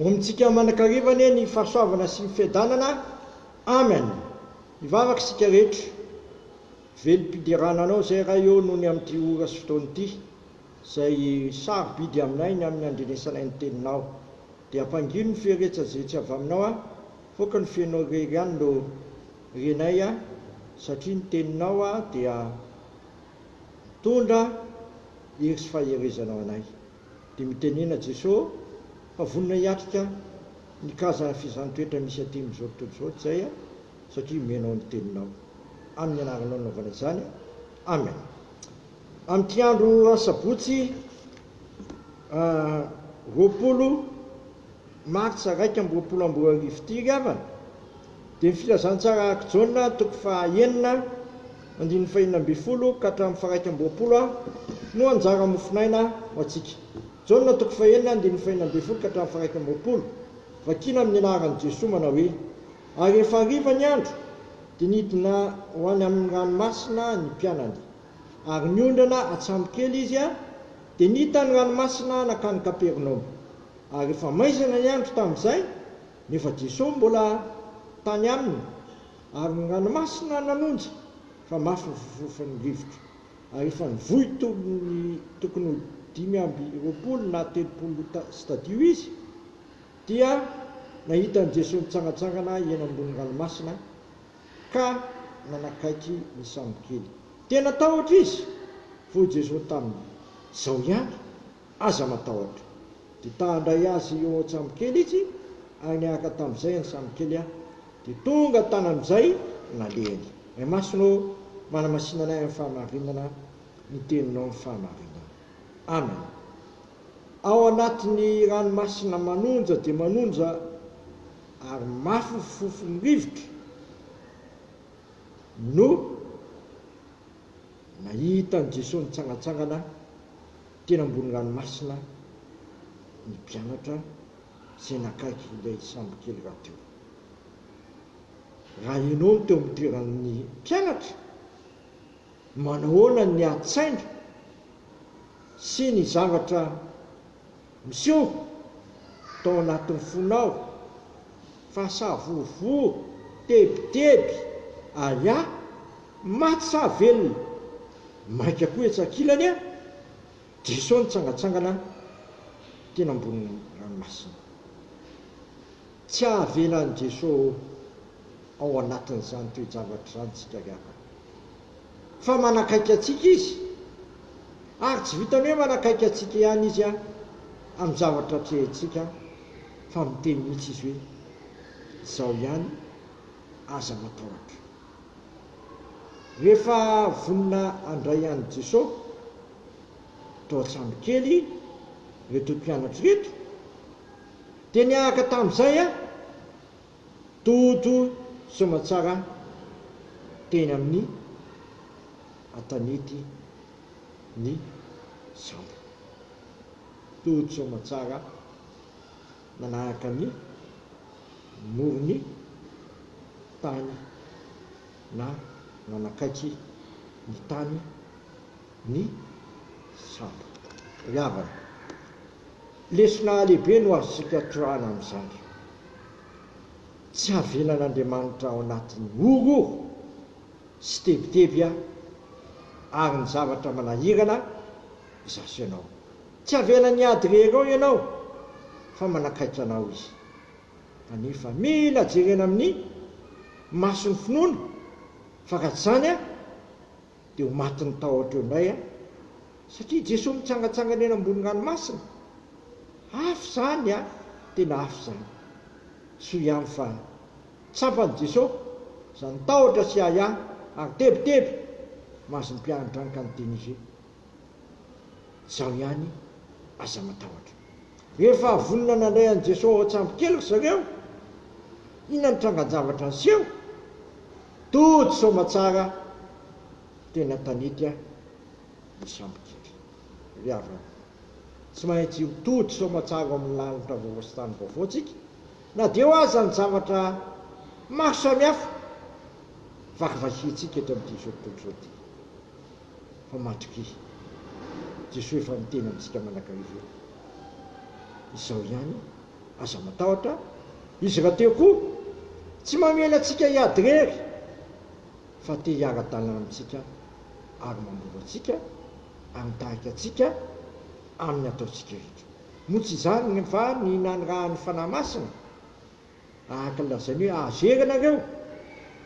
Omentsika manan-kariva anie ny fahasoavana sy ny fiadanana. Amen. Hivavaka isika rehetra. Velom-piderana anao izay Ray ô noho ny amin'ity ora sy fotoana ity izay sarobidy aminay ny amin'ny handrenesanay ny Teninao. Dia ampangino ny fieretsazetsy avy aminao aho fa aoka ny fenao irery ihany no renay aho satria ny Teninao dia mitondra hery sy faherezana ho anay. Dia mitenena Jeso fa vonona hiatrika ny kaza f'izany toetra misy aty amin'izao tontolo izao tsay a, satria menao ny teninao. Amin'ny anaranao nanaovana izany. Amen. Amin'ity andro asabotsy roapolo. Martsa iraika amby roapolo amby roa arivo ity ry havana dia ny filazantsara araka Jaona toko faha enina andininy faha enina ambin'ny folo ka hatramin'ny faha iraika amby roapolo no anjara mofonaina ho antsika. Jaona toko faha enina andininy faha enina ambin'ny folo ka hatramin'ny faha iraika amby roapolo, vakina amin'ny anaran'i Jesoa manao hoe, Ary rehefa hariva ny andro dia nidina ho any amin'ny ranomasina ny mpianany. Ary niondrana atsambo kely izy dia nita ny ranomasina nankany Kapernaomy. Ary efa maizina ny andro tamin'izay, nefa Jesoa mbola tany aminy. Ary ny ranomasina nanonja, fa mafy ny fofofon'ny rivotra. Ary efa nivoy tony tokony ho dimy amby roapolo na telopolo stadio izy, dia nahita an'i Jesoa mitsangantsangana eny ambony ranomasina, ka nanakaiky ny sambokely. Tena tahotra izy. Hoy Jesoa taminy, Izao ihany, aza matahotra. Dia ta handray azy eo an-tsambokely izy, ary niaraka tamin'izay ny sambokely an, dia tonga tany amin'izay nalehany. Ny masonao manamasina anay amin'ny fahamarinana ny teninao ny fahamarinana. Amen. Ao anatin'ny ranomasina manonja dia manonja. ary mafofofon'ny rivotra no nahita an'i Jesoa nitsangantsangana teny ambony ranomasina ny mpianatra izay nakaiky ilay sambokely rahateo. Raha ianao no teo amin'ny toeran'ny mpianatra, manahoana ny nihatsaina sy ny zavatra Miseho tao anatin'ny fonao fa savorovoro, tebiteby, ahiahy, maty sa velona? Mainka koa etsy ankilany an! Diso ny tsangatsangana teny ambonin'ny ranomasina. Tsy hahavela an'i Jeso ao anatin'izany toe-javatra izany tsika gaga. fa manakaiky antsika Izy, ary tsy vitan'ny hoe manakaiky antsika ihany Izy amin'ny zavatra atrehintsika, fa miteny mihitsy Izy hoe, Izao ihany, aza matahotra. Rehefa vonona handray an'i Jesosy tao an-trano kely ireto mpianatra ireto, dia niaraka tamin'izay Toto soamantsara teny amin'ny an-tanety ny sambo. Toto soamantsara nanaraka ny moron'ny tany na nanakaiky ny tany ny sambo. Ry havana. Lesona lehibe no azontsika toroahana amin'izany. Tsy havenan'Andriamanitra ao anatin'ny horohoro sy tebiteby aho ary ny zavatra manahirana izaho sy ianao. Tsy havenan'ny ady irery ao ianao fa manakaiky anao Izy. Kanefa mila jerena amin'ny mason'ny finoana fa raha tsy izany, Dia ho matin'ny tahotra eo indray aho, satria i Jesoa mitsangatsangana eny ambonin-dranomasina. Hafa izany an! Tena hafa izany. Soa ihany fa tsapan'i Jesoa izany tahotra sy ahiahy ary tebiteby mahazo ny mpiandrandranka an'i Denise. Izaho ihany aza matahotra. Rehefa vonona nandray an'i Jesoa ao an-tsambo kely ry zareo, inona no trangan-javatra niseho? Tody soamatsara tena tanetra ny sambokely ry havana tsy maintsy io tody soamatsara ao amin'ny lanitra vaovao sy tany vaovao tsika na dia eo aza ny zavatra maro samihafa vakivakiantsika eto amin'ity izao tontolo izao ity fa matokia Jesoa efa miteny amintsika manakariva eo izao ihany Aza matahotra izy rahateo koa tsy mamela antsika hiady irery fa te hiara-dalana amintsika ary mamoro antsika ary mitarika antsika amin'ny ataontsika rehetra. Moa tsy izany va ny nanirahan'ny Fanahy Masina? Araka ny lazainy hoe azo hery ianareo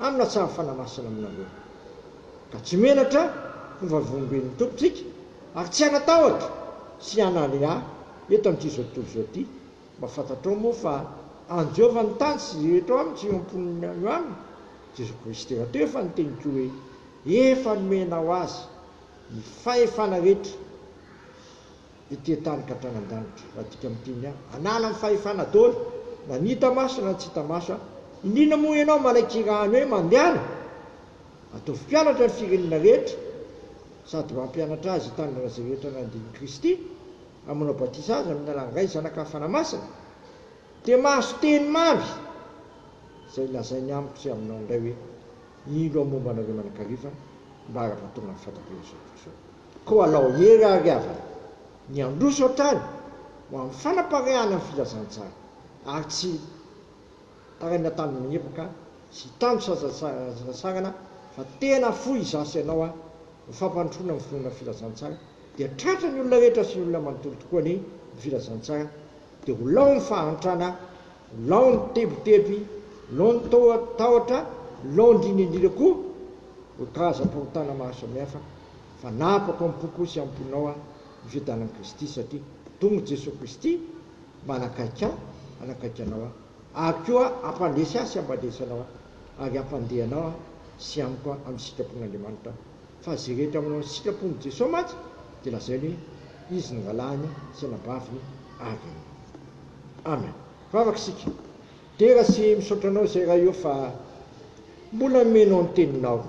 amin'ny hatsaran'ny Fanahy Masina aminareo ka tsy menatra ho vavolombelon'ny Tompontsika. Ary tsy hanatahotra sy hanalea eto amin'ity izao tontolo izao ity, mba fantatrao moa fa an'i Jehovah ny tany sy izay eto aminy sy eo am-pon'ny any ho aminy, Jesoa Kristy tena teo efa niteny koa hoe, Efa nomenao azy ny fahefana rehetra ety an-tany ka hatrany an-danitra. Raha adika amin'ny teny hoe hanala ny fahefana daholo, na ny hita maso na ny tsy hita maso, indrindra moa ianao malaikira any hoe mandehana, ataovy mpianatra ny firenena rehetra, sady mampianatra azy hitandrina izay rehetra nandinin'i Kristy hamonao batisa azy amin'ny alalan'Ray, Zanaka ary Fanahy Masina, dia mahazo teny mamy izay lazainy amiko sy aminao indray hoe, Ilo aho momba anareo manakariva mba haraka tonga amin'ny fahataperany izao tontolo izao. Koa alao hery ary havana ny handroso hatrany ho amin'ny fanapareahana ny filazantsara ary tsy. Tarainina tany Miroka sy tany Sazarantsarana fa tena fohy izaho sy ianao a! Ho fampandrosoana ny finoana Filazantsara dia tratra ny olona rehetra sy ny olona manontolo tokoa anie ny Filazantsara dia ho lao ny fahantrana, ho lao ny tebiteby, lao ny tahotra, lao indrindra indrindra koa ireo karazam-pahotana maro samihafa fa napako am-poko sy am-ponao a! Ny fiadanan'i Kristy satria tonga i Jesoa Kristy, Mba hanakaiky ahy, hanakaiky anao aho, ary koa hampandresy ahy sy hampandresy anao aho, ary hampandeha anao aho sy amiko aho amin'ny sitrapon'Andriamanitra aho. Fa izay rehetra manao ny sitrapon'i Jesoa mantsy dia lazainy hoe, Izy no Rahalahiny sy Anabaviny avy aminy. Amen. Vavaka isika. Dera sy misaotra anao zay ra io fa mbola nomenao ny teninao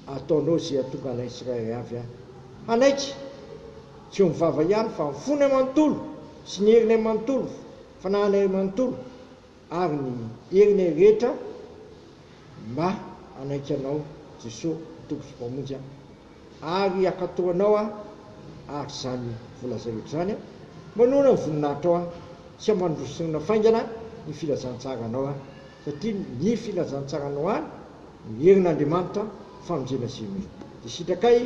ataonao ze atonga anay tsirairay avy a hanaiky tsy eo mivava ihany fa ny fonay manontolo sy ny herinay manontolo fanahinay manontolo ary ny herinay rehetra mba hanaiky anao Jesoa Tompo sy Mpamonjy a. Ary hiakatò anao Aho ary izany volazaioko izany Aho, manohana ny voninahitrao Aho, sy hamanrosorona faingana ny filazantsaranao Aho, satria ny filazantsaranao Ahy no herin'Andriamanitra famonjena izay mino. Dia sitrakay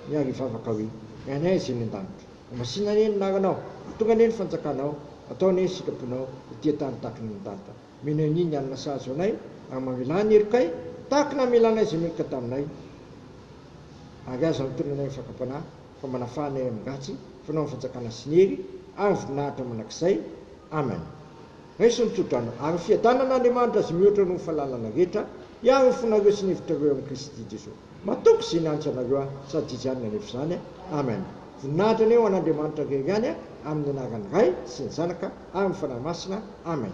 ny ary hivavaka hoe, Ny Anay izay any an-danitra, Masinina anie ny Anaranao, tonga anie ny Fanjakanao, atao anie ny sitraponao ety an-tany tahaka ny any an-danitra. Mino an'i ny alina sazy ho anay, ary mamelà ny herokay, tahaka ny namelanay izay meloka taminay. Ary aza antonona anay amin'ny fakam-panahy, fa manafà anay amin-dratsy, fanao ny fanjakana sy ny hery, ary ny voninahitra mandrakizay. Amen. Raiso ny tsodrano, ary fiadanana Andriamanitra izay mihoatra noho ny fahalalana rehetra, hiaro ny fonareo sy ny hevitrareo amin'i Kristy Jesoa. Matoky izay nianatra anareo aho sady izy ihany no hanefa izany a! Amen! Voninahitra anie ho an'Andriamanitra irery ihany a! Amin'ny anaran'ny Ray sy ny Zanaka ary ny Fanahy Masina. Amen!